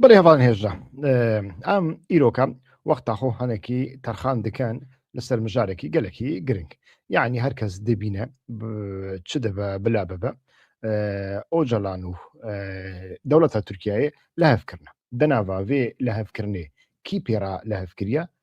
بەڵێ هەواڵ هێژە ئەم ئیرۆکە وەخت تاخۆ هەنێکی تەرخان دکەن لەسەر مژارێکی گەلەکی گرنگ یعنی هەر کەس دەبینە چ دەبە بلا بەبە ئۆجەلان و دەوڵەتە تورکایە لە هەفکردە دەناڤێ لە هەفکردێ کی پێرا لە هەفکریە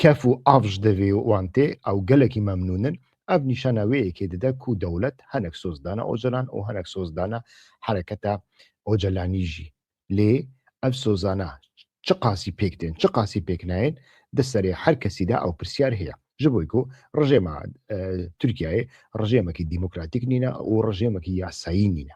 کەف و ئاڤژ دەڤێ و ئوانتێ ئەو گەلەکی مەمنوونن ئەڤ نیشانە وێ یەکێ ددە کو دەولەت هەنەک سۆز دانە ئۆجەلان ئۆ هەنەک سۆز دانە حەرەکەتە ئۆجەلانیژی لێ ئەڤ سۆزانە چ قاسی پێک دێن چ قاسی پێک ناێن دە سەرێ هەر کەسیدا ئەو پرسیار هەیە ji بۆی کو ڕژێمە تورکیایێ ڕژێمەکی دیموکراتیک نینە ئەو ڕژێمەکی یاسایی نینە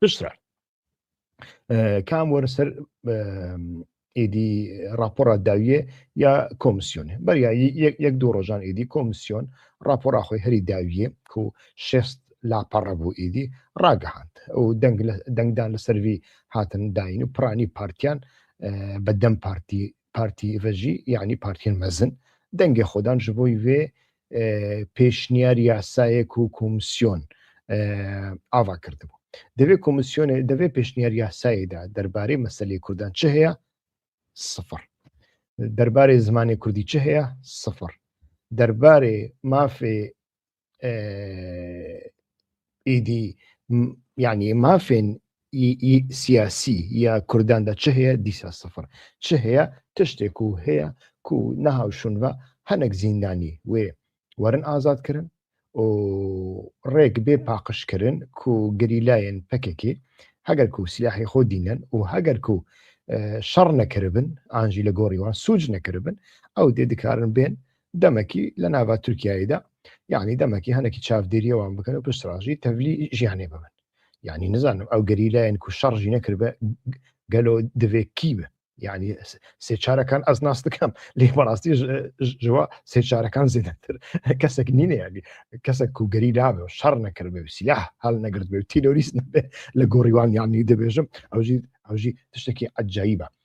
پشترا کام وەرە سەر ئیدی راپۆرا داویێ یا کۆمسیۆنێ بەریا یەک دوو ڕۆژان ئیدی کۆمسیۆن راپۆرا خۆی هەری داویێ کو شێست لاپەڕە بوو ئیدی ڕاگەهاند ئەو دەنگدان لە سەروی هاتن داین و پرانی پارتیان بە دەم پارتی پارتی رژی یعنی پارتیەن مەزن دەنگێ خۆدان ژ بۆی وێ پێشنیار یاسایەک و کۆمسیۆن ئاوا کردبوو دەوێت کۆمسیۆنێ دەوێت پێشنیار یاسایدا دەربارەی مەسلەی کوردان چ هەیە سفر دەربارەی زمانی کوردی چ هەیە سفر دەربارەی مافێ ئیدی یعنی مافێن سیاسی یا کورداندا چ هەیە دیسا سفر چ هەیە تشتێک و هەیە کو نەهاوشون بە هەنێک زیندانی وێ وەرن ئازادکردن و ڕێک بێ پاقشکردن کو گریلایەن پەکێکی هەگەر کو سیاحی خۆ دینەن و هەگەر کو شەڕ نەکردبن ئاژی لە گۆڕیوان سوج نەکردبن ئەو دێ دکارن بێن دەمەکی لە ناوە تورکاییدا یعنی دەمەکی هەنێکی چاودێریەوەوان بکەن و پشتڕژی تەولی ژیانێ ببن یعنی نزانم ئەو گەری لایەن کو شەڕژی نەکرد بە گەلۆ دەوێکی بە یعنی سێچارەکان ئەس ناس دەکەم لێ بەڕاستی ژوە سێچارەکان زیاتر کەسێک نینە یادی کەسە کوگەری دابێ و شەڕ نەکرد بێ سیلا هەڵ نەگرت بێ تیرۆریست نبێ لە گۆڕیوان یانی دەبێژم ئەوژی ئەوژی تشتێکی ئەجایی بە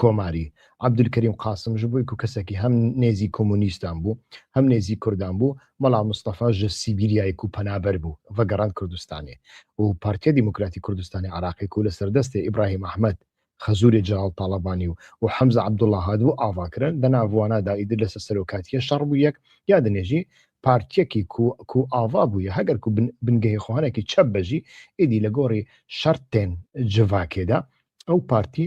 کۆماری، عەبدولکەریم قاسم، ژ بوویکو کەسەکی هەم نێزی کۆمۆنیستان بوو هەم نێزی کوردان بوو، مەلا مستەفا ژ سیبیریایکو پەنابەر بوو ڤە گەڕاند کوردستانێ و پارتیە دیموکراتی کوردستانی عراقیکو لە سەر دەستێ ئیبراهیم ئەحمەد خەزوورێ جەلال تاڵەبانی و و حەمزە عەبدوڵا هاتبوو ئاڤا کرن، دە ناڤوانا دا ئیدر لە سە سەرۆکاتیە شەڕ بوویەک یا دنێژی پارتیەکی کو کو ئاڤا بوویە هەگەر کو بن بنگەهێ خوهانەکی چەپ بەژی ئیدی لە گۆڕی شەرتێن جڤاکێ دا ئەو پارتی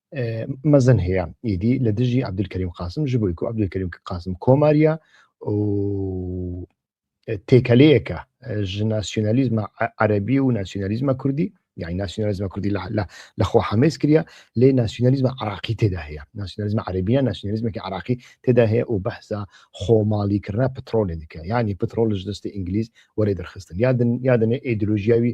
مەزن هەیە ئیدی لە دژی عبدولکەریم قاسم ژ بووی عبدولکەریم قاسم کۆماریە و تێکەلەیەکە ژناسیۆنالیزمە عەربی و ناسیۆنالیزمە کوردی یعنی ناسیۆنالیزمە کوردی لە خۆ حەمێز کریا لێ ناسیۆنالیزمە عراقی تێدا هەیە ناسیۆنالیزمە عەربیە ناسیۆنالیزمێکی عراقی تێدا هەیە و بەحسا خۆماڵی کردنا پترۆلێ دیکە یعنی پترۆلش دەستی ئینگلیز وەێ دەرخستن یادن یادنێ ئیدلوژیاوی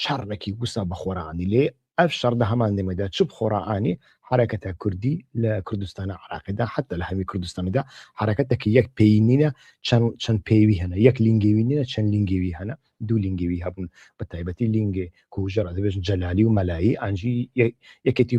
شەڕێکی وسا بە خۆرانی لێ ئەڤ شەڕ دە هەمان دەمێدا چ بخۆرانی حەرەکەتە کوردی لە کوردستانە عراقیدا حتا لە هەمی کوردستانیدا حەرەکەتەکی یەک پێی نینە چەند چەند پێوی هەنە یەک لینگەوی نینە چەند لینگەوی هەنە دوو لینگەوی هەبوون بە تایبەتی لینگێ کوژەڕ دەبێژن جەلالی و مەلایی ئەنجی یەکێتی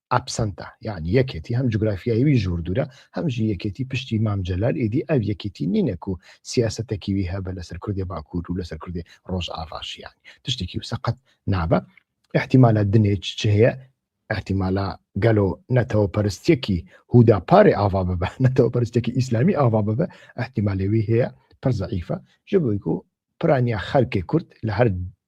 ئەپسەنتە یعنی یەکێتی هەم جوگرافیایوی ژوور دوورە هەمژی یەکێتی پشتی مام جەلال ئیدی ئەو یەکێتی نینەک و سیاسەتەکیوی هەبە لەسەر کوردێ باکوور و لەسەر کوردێ ڕۆژ ئاڤاشیان تشتێکی و سەقەت نابە احتیمالە دنێچ چ هەیە احتیمالە گەلۆ نەتەوە پەرستێکی هودا پارێ ئاوا ببە نەتەوە پەرستێکی ئیسلامی ئاوا ببە احتیمالەوی هەیە پرزەعیفە ژبووی و پرانیا خەرکێ کورد لە هەر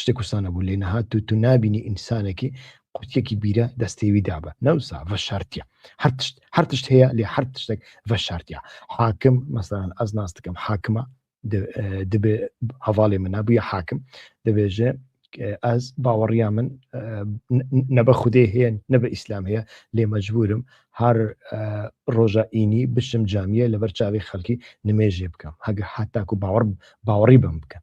شتێک وسا نەبوو لێ نەهات و تو نابینی ئینسانێکی قوتیەکی بیرە دەستێوی دابە نەوسا بە شارتیە هەرتشت هەرتشت هەیە لێ هەر تشتێک بە شارتیا حاکم مەسەران ئەز ناس دەکەم حاکمە دەبێ هەواڵێ من نبووە حاکم دەبێژێ ئەز باوەڕیا من نەبە خودێ هەیە نە بە ئیسلام هەیە لێ مەجبورم هەر ڕۆژە ئینی بشم جامیە لەبەر چاوی خەڵکی نمێژێ بکەم هەگە حتاکو باوەڕ باوەڕی بم بکەن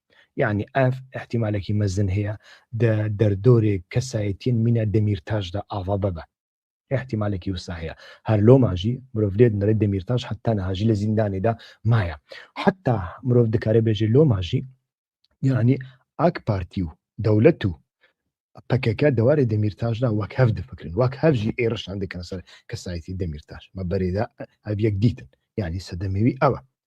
یەعنی ئەڤ ئیحتیمالەکی مەزن هەیە دە دەردۆرێگ کەسایەتیەن مینە دەمیرتاش دا ئاڤا بەبە. ئیحتیمالەکی وسا هەیە هەر لۆما ژی مرۆڤ لێد نەرێ دەمیرتاش حەتا نەها ژی لە زیندانێ دا مایە. حەتا مرۆڤ دکارێ بێژێ لۆما ژی یەعنی ئاک پارتی و دەولەت و پەکەکە دەوارێ دەمیرتاش دا وەک هەڤ دفکرن وەک هەڤ ژی ئێرشان دکەنە سەر کەسایەتی دەمیرتاش مە بەرێدا ئەڤ یەک دیتن یەعنی سەدەمەوی ئەوە.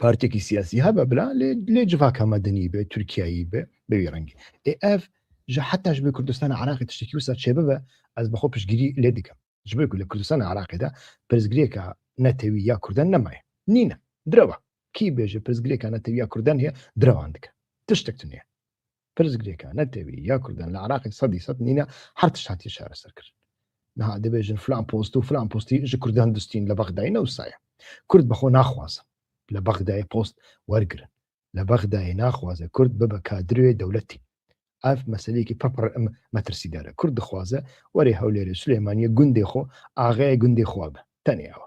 پارتێکی سیاسی هەبە بلا لێ جڤاکە مەدەنی بێ تورکایی بێ بەوی ڕەنگی ئف ژە حتاش بە کوردستان عراقی تشتێکی وسە چێ ببە ئەس بەخۆ پشگیری لێ دکەم جبێک لە کوردستان عراقیدا پرزگرێکە نەتەوی یا کوردن نەمایە نینە درەوە کی بێژە پرزگرێکە نەتەوی یا کوردن هەیە درەوان دکە تشتێک نیە پرس گرێکە نە تەوی یا کوردن لە عراقی سەدی سەد نینە هەر تشت هاتی شارە سەر کرد نها دەبێژن فلان پۆست و فلان پۆستی ژ کوردان دستین لە بەغدای نەوسایە کورد بەخۆ ناخوازم لە بەغدای پۆست وەرگرن لە بەغدای ناخوازە کورد ببە کادروێ دەولەتی ئاف مەسلەیەکی پڕپڕ ئەم مەترسیدارە کورد دخوازە وەرێ هەولێرێ سلێمانیە گوندێ خۆ ئاغای گوندێ خوابە تەنێەوە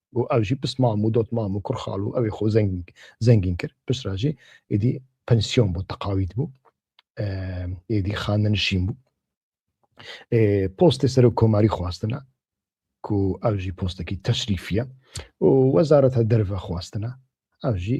و ئەوژی پس مام و دۆت مام و کوڕخاڵ و ئەوێ خۆ زەنگین زەنگین کرد پسراژی ئیدی پەنسیۆن بوو تەقاویت بوو ئێدی خانە نشین بوو پۆستێ سەر و کۆماری خواستنە کو ئەوژی پۆستەکی تەشریفە و وەزارەتە دەرڤە خواستنە ئەوژی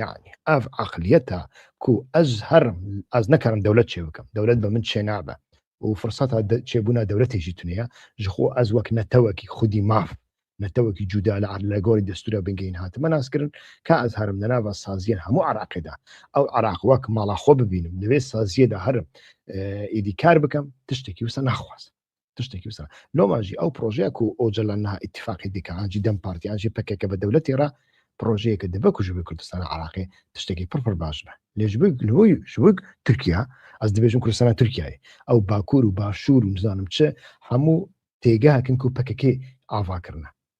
یعنی ئەف عقلیەتە کو ئەز هەر ئەز نەکەرم دەولەت چێ بکەم دەولەت بە من چێ نابە و فرسەتا چێبوونا دەولەتێکی تونەیە ژخۆ ئەز وەک نەتەوەکی خودی ماف نەتەوەکی جودا لە عەر لە گۆری دەستورە بنگەین هاتمە ناسکردن کا ئەز هەرم دەناوە سازیە هەموو عراقیدا ئەو عراق وەک ماڵا خۆ ببینم لەوێ سازیەدا هەرم ئیدی کار بکەم تشتێکی وسە ناخوازم تشتێکی وسە لۆماژی ئەو پرۆژەیە و ئۆجلان نها اتفاقی دیکەجی دەم پارتیانجی پکێکە بە دەولەتی ڕا پرۆژەیەکە دەبە کوژبووی کوردستان عراقی تشتێکی پڕپڕ باش بە لێژ شوک تورکیا ئەس دەبێژم کوردستانە تورکای ئەو باکوور و باشوور و نزانم چ هەموو تێگاکن و پکەکەی ئاواکردە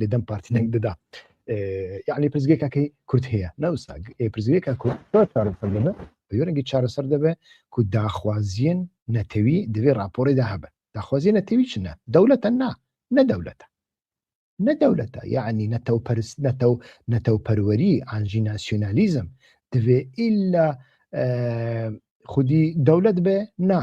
لە دەم پارتی دەنگ دەدا یعنی پرزگێکەکەی کورت هەیە ناوسا پرزگێکە کورت بەرەنگی چارەسەر دەبێ کو داخوازیین نەتەوی دەبێ راپۆرێدا هەبن داخوازیە نەتەوی چنە دەولەتە نا نەدەولەتە نەدەولەتە یعنی نەتەو پرس نەتەو نەتەو پەروەری ئاژی ناسیۆنالیزم دەبێ ئللا خودی دەولەت بێ نا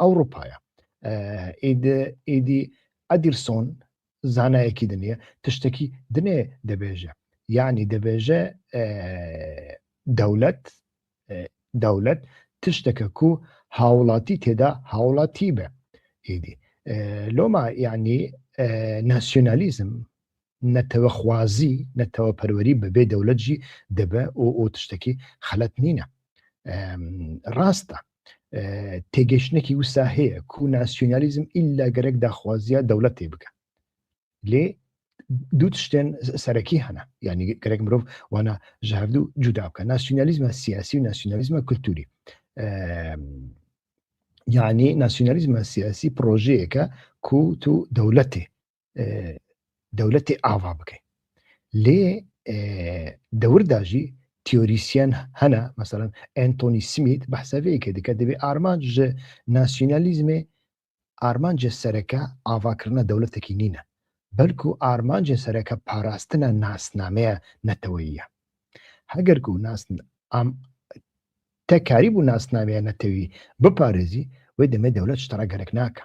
ئەوڕوپایە ئیدی ئەدیرسۆن زانایەکی دنیە تشتەکی دنێ دەبێژە یعنی دەبێژە دەولەت دەولەت تشتەکە کو هاوڵاتی تێدا هاوڵاتی بە ئیدی لۆما یعنی ناسیۆنالیزم نەتەوە خوازی نەتەوە پەروەری بەبێ دەولەتجی دەبە ئۆ ئۆ تشتەکی خەلەت نینە ڕاستە تێگەشتنێکی وسا هەیە کو ناسیۆنالیزم ئللا گەرەک داخوازیە دەولەت تێ بکە لێ دوو شتێن سەرەکی هەنا ینی گەرەک مرۆڤ وانە ژهردوو جودا بکە ناسیۆنالیزمە سیاسی و ناسیۆنالیزمە کللتوری یعنی ناسیۆنالیزمە سیاسی پرۆژەیەەکە کووت و دەولەتێ دەولەتی ئاوا بکەین لێ دەورداژی تیۆریسیەن هەنا مەسەرەن ئەتۆنی سمیت بەحسەوەیەکە دیکە دەبێت ئارمان ژ ناسیۆنالیزمێ ئارمانجە سەرەکە ئاواکردە دەولەتێکی نینە بەلکو ئارمانجە سەرەکە پاراستنە ناسنامەیە نەتەوەیە هەگەرک و ناسن ئام تەکاری بوو ناسنامەیە نەتەوی بپارێزی وی دەمێ دەولەت شتەڕە گەرەک ناکە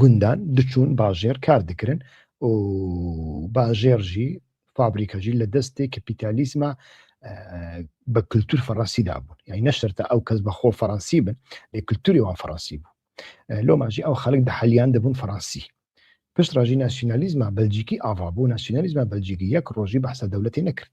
گوندان دچون باژێر کار دکرن و باژێر ژی فابریکە ژی لە دەستێ کەپیتالیزما بە کللتور فەڕەنسی دابوون یای نەشترتە ئەو کەس بە خۆ فەڕەنسی بن لە کللتوری وان فەڕەنسی بوو لۆماژی ئەو خەڵک دە حەلیان دەبوون فەڕەنسی پشت ڕژی ناسیۆنالیزما بەلجیکی ئاوا بوو ناسیۆنالیزما بەلجیکی یەک ڕۆژی بەسە دەولەتی نەکرد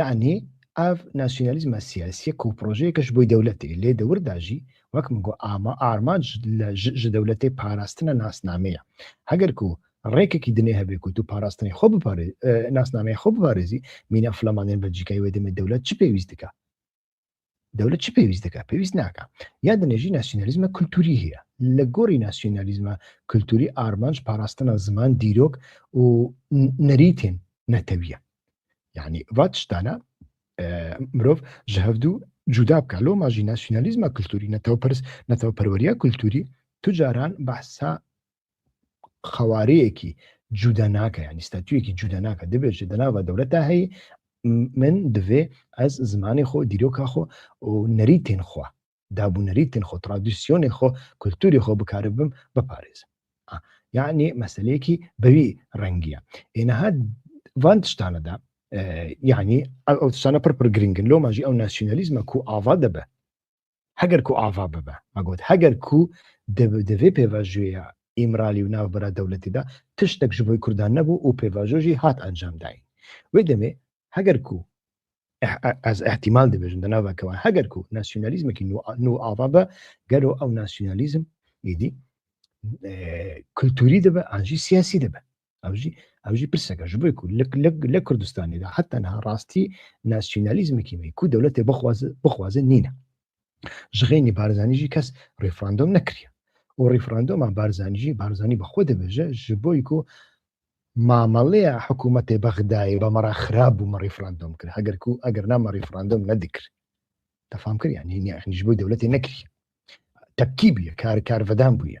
یعنی ئەڤ ناسیۆنالیزمە سیاسیە کە پرۆژەیەکەش بۆی دەولەتێ لێ دەورداژی وەک من گۆ ئاما ئارمانج لە ژ دەولەتێ پاراستنە ناسنامەیە هەگەر کو ڕێکێکی دنێ هەبێ کوت و پاراستنی خۆ بپارێ ناسنامەیە خۆ بپارێزی مینە فلامانێن بەلجیکای وێ دەمێ دەولەت چ پێویست دکا دەولەت چی پێویست دەکە پێویست ناکە یا دنێژی ناسیۆنالیزمە کولتوری هەیە لە گۆری ناسیۆنالیزمە کولتوری ئارمانج پاراستنە زمان دیرۆک و نەریتێن نەتەویە یعنی ڤات شتانە مرۆڤ ژە هەفتوو جودا بکە لۆ ماژی ناسیۆنالیزمە کولتوری نەتەوە پرس نەتەوە پەروەریە کولتوری توجاران بەسا قەوارەیەکی جودا ناکە ینی ستاتویەکی جودا ناکە دەبێت دەناوە دەورە تا هەیە من دەێ ئەس زمانی خۆ دیرۆکە خۆ و نەری تێنخوا دابوو نەری تێنخۆ ترادیسیۆنی خۆ کولتوری خۆ بکارە بم بپارێزم یعنی مەسلەیەکی بەوی ڕەنگیە ئێنەها وان تشتانەدا یعنی ئەو تشتانە پڕپر گرنگن لۆ ماژی ئەو ناسیۆنالیزمە کو ئاوا دەبە هەگەر کو ئاڤا ببە مەگوت هەگەر کو دەبێ پێڤژوێە ئیمرالی و ناوبرا دەولەتیدا تشتێک ژ بۆی کوردان نەبوو و پێڤژۆژی هات ئەنجام داین وێ دەمێ هەگەر کو ئەز احتیمال دەبێژن دەناوەکەوە هەگەر کو ناسیۆنالیزمێکی نو ئاوا بە گەرو ئەو ناسیۆنالیزم ئیدی کللتوری دەبە ئاژی سیاسی دەبە ئەوژی ئەوژی پرسەکە ژ بۆی کو لە کوردستانیدا حتا نها ڕاستی ناسیۆنالیزمێکی می کو دەولەتێ بخواز بخوازن نینە ژغێنی بارزانیژی کەس ڕیفراندۆم نەکرە و ڕیفراندۆمان بارزانیژی بارزانانی بەخۆ دەبێژە ژ بۆی کو مامەڵەیە حکوومەتێ بەغدای بە مەرا خراپ بوو مە ڕیفراندۆم کرد هەگەر کو ئەگەر نامە ڕیفراندۆم نەدیکرد دەفام کرد یعنی نیخنیش بووی دەولەتی نەکری تەکی بووە کار کارڤدان بووە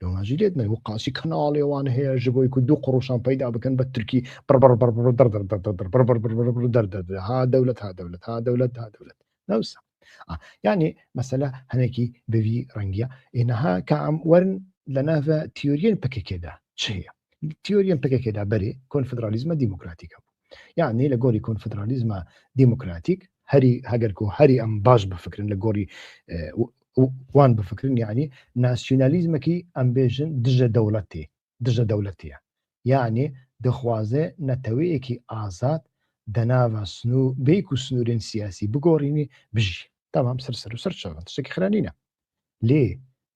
لەماژی لێت نەی و قاسی کەناڵێوان هەیە ژ بۆی و دوو قڕوشان پیدا بکەن بە ترکی بڕبڕ بڕبڕ دەر دەر دەر دەر بڕ بڕ بڕ بڕ بڕ دەر دەر دەر ها دەولەت ها دەولەت ها دەولەت ها دەولەت نەوسە یعنی مەسەلە هەنێکی بوی ڕەنگە ئێنەها کام وەرن لە ناڤە تیۆریەن پکێکێدا چ هەیە تیۆریەن پکێکێدا بەرێ کۆنفدرالیزمە دیموکراتیکە بوو یاعنی لە گۆری کۆنفدرالیزمە دیموکراتیک هەری هەگەرکۆ هەری ئەم باش بفکرن لە گۆری وان بفکرن یعنی ناسیۆنالیزمەکی ئەمبێژن دژە دەوڵەتی دژە دەولەتیە یعنی دەخوازێ نەتەوەیەکی ئازاد دەناوە سنو بیک و سنوورێن سیاسی بگۆڕینی بژی تەمام سەر سەر و سەر چاوان شتێکی خرانینە لێ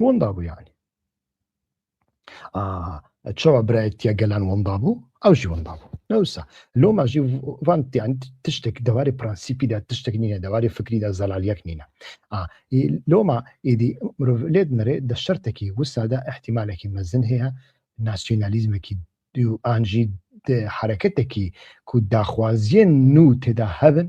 بۆندا بوو یعنی چاوە برایەتە گەلان وەندا بوو ئەو ژی وەندا بوو نەوسا لۆ ماژی وانتیان تشتێک دەواری پرەنسیپیدا تشتێک نیە دەواری فکریدا زەلالیەک نینە لۆما ئیدی مرۆڤ لێت نەرێ دە شەرتێکی وسادا احتیمالێکی مەزن هەیە ناسیۆنالیزمێکی دوو ئانژی حرەکەتێکی کو داخوازیە نو تێدا هەبن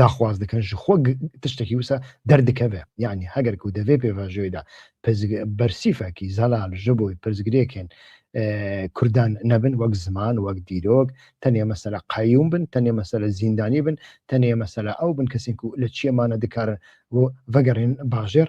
داخواز دکەن ژ خۆ گ تشتەکی وسە دەر دکەێ یاعنی هەگەر کو دەێ پێڤاژۆیدا پزگ بەرسیفەکی زەلال ژ بۆی پرزگرێکێن کوردان نەبن وەک زمان وەک دیرۆک تەنێ مەسەلە قەیوم بن تەنێ مەسەلە زیندانی بن تەنێ مەسەلە ئەو بن کەسێک و لە چیەمانە دکارن و ڤەگەڕێن باژێر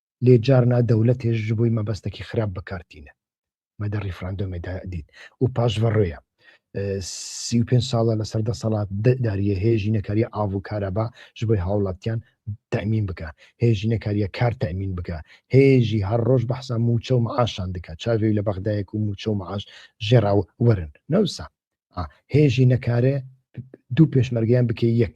لێ جارنا دەولەتێش ژ بوی مەبەستەکی خراپ بەکار تینە مەدە ریفراندۆمێ دا دید و پاش ڤە رێە سی و پێنج ساڵە لە سەر دەسەڵات داریە هێ ژینەکاریە ئاڤ و کارەبا ژ بۆی هاوڵاتیان تەمین بکە هێ ژینەکاریە کار تەمین بکە هێژی هەر ڕۆژ بەحسا موچە و معاشان دکە چاوێ لە بەغدایەک و موچە و معاش ژێرا و وەرن نەوسا هێژی نەکارێ دوو پێشمەرگیان بکەی یەک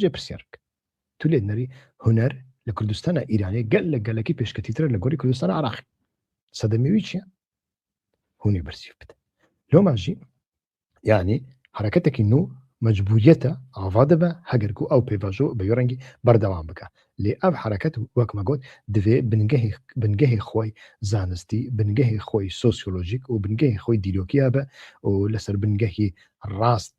جێ پرسیار بکە تو لێت نەری هونەر لە کوردستانە ئیرانێ گەل لە گەلەکەی پێشکەتیترە لە گۆری کوردستان عراق سەدەمەوی چیە هونی بەرسیف بدە لۆمانژی یعنی حرەکەتێکی نو مەجبوریەتە ئاوا دەبە هەگەرکو ئەو پێڤژۆ بە ڕەنگی بەردەوام بکە لێ ئەم حرەکەت وەکمەگوت دەوێ بنگەهی بنگەهی خۆی زانستی بنگەهی خۆی سۆسیۆلۆژیک و بنگەهی خۆی دیلۆکییا بە و لەسەر بنگەهی ڕاست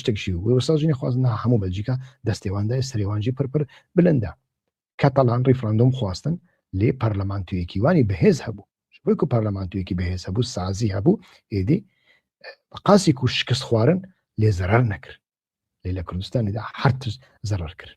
شتک ژی و وروسا جنی خواز نا هەموو بەلجیکا دەستێوان دای سرێوانجی پر پر بلندە کەتەلان ریفراندۆم خواستن لێ پەرلەمانتویەکی وانی بەهێز هەبوو وەک و پەرلەمانتویەکی بەهێز هەبوو سازی هەبوو ئێدی قاسیک و شکست خوارن لێ زەرەر نەکرد لێ لە کوردستانیدا هەرتز زەرەر کرد